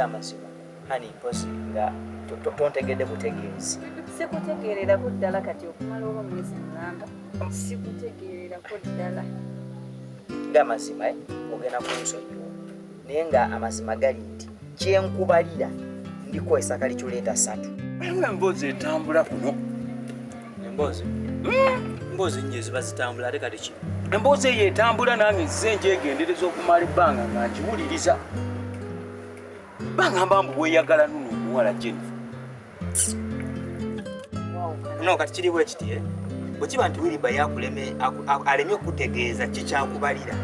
amazima hani mpozi nga tontegedde butegeezi sikutegeererako ddala kati okumala oba omwezi mulamba sikutegeererako ddala nga amazima eh? ogenda kunsonyiwa naye nga amazima gali nti kyenkubalira ndiko esakali kyuleeta satu ewe emboozi etambula kuno emboozi hmm. emboozi nnyo eziba zitambula ate kati ki emboozi eyo etambula nange nzize njegendereza okumala ebbanga nga ngiwuliriza bangamba mbu weyagala nuno omuwala jennifer no kati kiri bwe kiti eh? bwe kiba nti wiriba yakuleme alemye okutegeeza kikyakubalira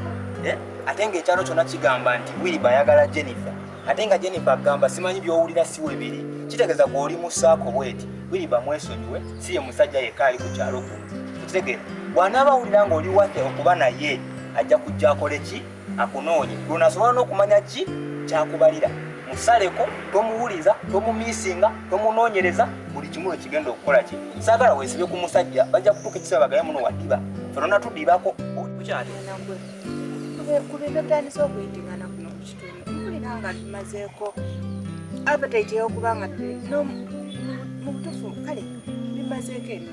eh? ate ng'ekyalo kyonna kigamba nti wiriba ayagala jennifer ate nga jennifer agamba simanyi by'owulira si webiri kitegeeza gweoli musaako bweti wiriba mwesonyiwe si ye musajja yekka ali ku kyalo ku okitegeera bw'anaaba awulira ng'oli wate okuba naye ajja kujja akole ki akunoonye lwonasobola n'okumanya ki kyakubalira musaleko tomuwuliza tomumisinga tomunoonyereza buli kimu ekigenda okukola ki saagala weesibe ku musajja bajja kutuuka ekiseera bagaye muno wadiba fenona tudibako okyali kubinotandisa okuyitingana kuno ku kitundu mpulira nga tumazeeko appetite y'okuba nga mu butufu kale bimazeeko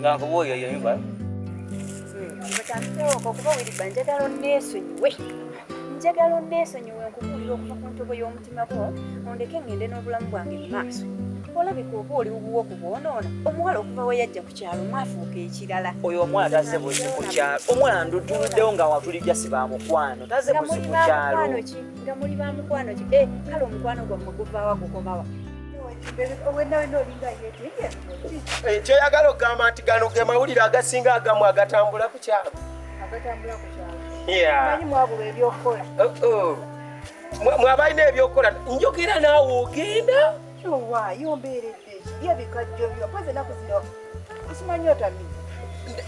nga nkuba oyo yeyumva mutandikeewoko hmm, kuba wiriba njagala onneesonyiwe njagala onneesonyiwe nkubuulira okuva ku ntobo y'omutima gwo ondeke ngende n'obulamu bwange mu maaso olabika oba oli wuwo ku bwonoona omuwala okuva we yajja ku kyalo mwafuuka ekirala oyo omuwala taze buzi ku kyalo omuwala ndutuluddewo nga watulijja si ba mukwano taze buzi ku kyalo nga muli ba mukwano ki eh, kale omukwano gwammwe guvaawa gukomawa Eh, kyoyagala okugamba nti gano ge mawulire agasinga agamu agatambula ku kyalo mwabalina ebyokukola njogera naawe ogenda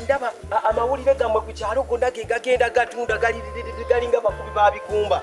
ndaba amawulire gammwe ku kyalo gonna ge gagenda gatunda galinga bakubi babigumba